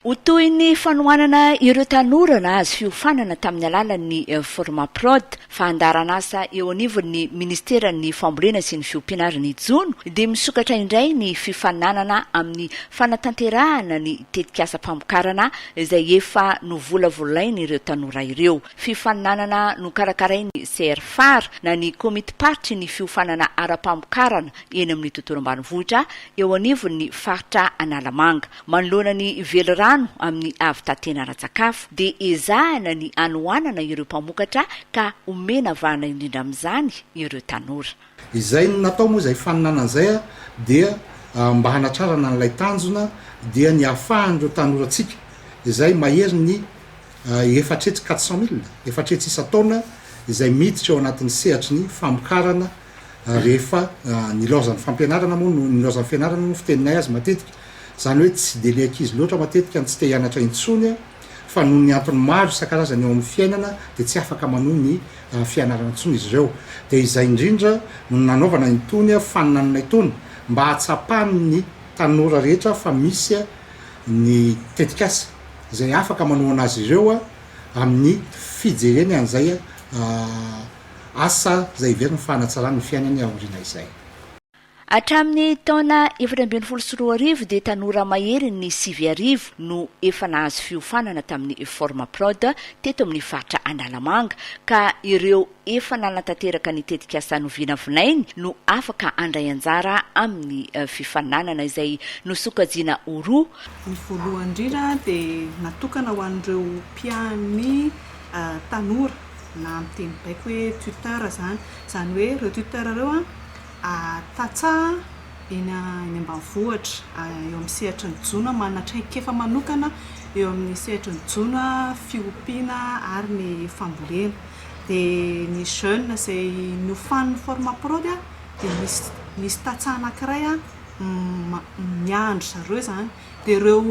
Ho toy ny fanohanana ireo tanora nahazo fiofanana tamin'ny alalan'ny Formaprod, fandaharanasa eo anivon'ny Ministeran'ny Fambolena sy ny Fiompiana ary ny Jono dia misokatra indray ny fifaninanana amin'ny fanatanterahana ny tetikasam-pamokarana izay efa novolavolain'ireo tanora ireo. Fifaninanana nokarakarain'ny CRFAR na ny Komitim-paritry ny Fiofanana ara-pamokarana eny amin'ny Tontolo ambanivohitra eo anivon'ny Faritra Analamanga. Manoloana ny velirano amin'ny havitatena ara-tsakafo dia ezahina ny hanohanana ireo mpamokatra ka omena vahana indrindra amin'izany ireo tanora. Izay no natao moa izay faninanana izay dia mba hanatrarana an'ilay tanjona dia ny hahafahan'ireo tanorantsika izay mahery ny efatretsy quatre cent mille, efatretsy isan-taona, izay miditra eo anatin'ny sehatry ny famokarana, rehefa nilaozan'ny fampianarana moa no nilaozan'ny fianarana moa ny fiteninay azy matetika, izany hoe tsy dia ilay ankizy loatra matetika no tsy te hianatra intsony fa noho ny antony maro isan-karazany eo amin'ny fiainana dia tsy afaka manohy ny fianarana intsony izy ireo. Dia izay indrindra no nanaovana itony faninanana itony mba hahatsapan'ny tanora rehetra fa misy ny tetikasa izay afaka manohana azy ireo amin'ny fijereny an'izay Asa izay heveriny fa hanatsarany ny fiainany aoriana izay. Hatramin'ny taona efatra ambin'ny folo sy roa arivo dia tanora maherin' ny sivy arivo no efa nahazo fiofanana tamin'ny Formaprod teto amin'ny faritra Analamanga ka ireo efa nanatanteraka ny tetikasa novinavinainy no afaka handray anjara amin'ny fifaninanana izay nosokajiana ho roa Ny voalohany indrindra dia natokana ho an'ireo mpiahan'ny tanora. na amin'ny teny baiko hoe tuteur izany. Izany hoe ireo tuteur ireo tantsaha eny ambanivohitra, eo amin'ny sehatry ny jono, manana traikefa manokana eo amin'ny sehatry ny jono, fiompiana ary ny fambolena. Dia ny jeune izay niofanin'ny Formapro dia misy tantsaha anankiray miandry zareo izany. Dia ireo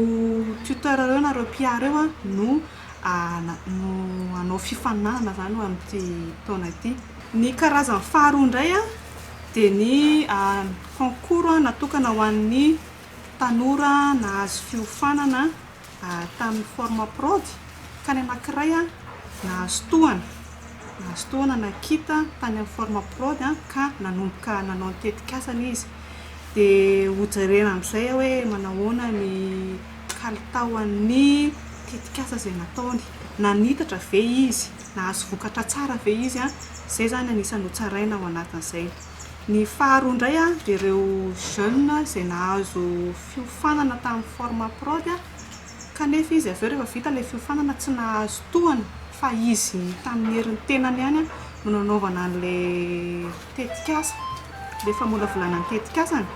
tuteur ireo na ireo mpiahy ireo no no hanao fifaninanana izany ho amin'ity taona ity. Ny karazany faharoa indray dia ny concours natokana ho an'ny tanora nahazo fiofanana tamin'ny Formaprod ka ny anankiray nahazo tohana, nahazo tohana na kit tany amin'ny Formaprod ka nanomboka nanao ny tetikasany izy. Dia hojerena amin'izay hoe manahoana ny kalitaon'ny tetikasa izay nataony. Nanitatra ve izy? Nahazo vokatra tsara ve izy? Izay izany anisan'ny hotsaraina ao anatin'izay. Ny faharoa indray dia ireo jeunes izay nahazo fiofanana tamin'ny Formaprod. Kanefa izy avy eo rehefa vita ilay fiofanana tsy nahazo tohana fa izy tamin'ny herin'ny tenany ihany no nanaovana an'ilay tetikasa. Ilay famolavolana ny tetikasany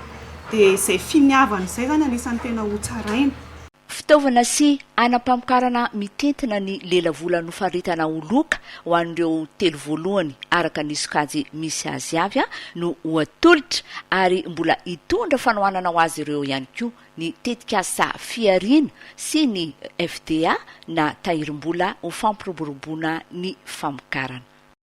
dia izay finiavany izay izany anisan'ny tena hotsaraina. Fitaovana sy hanam-pamokarana mitentina ny lelavola nofaritana ho loka ho an'ireo telo voalohany araka ny sokajy misy azy avy no ho atolotra ary mbola hitondra fanohanana ho azy ireo ihany koa ny tetikasa fihariana sy ny FDA na tahirim-bola ho fampiroboroboana ny famokarana.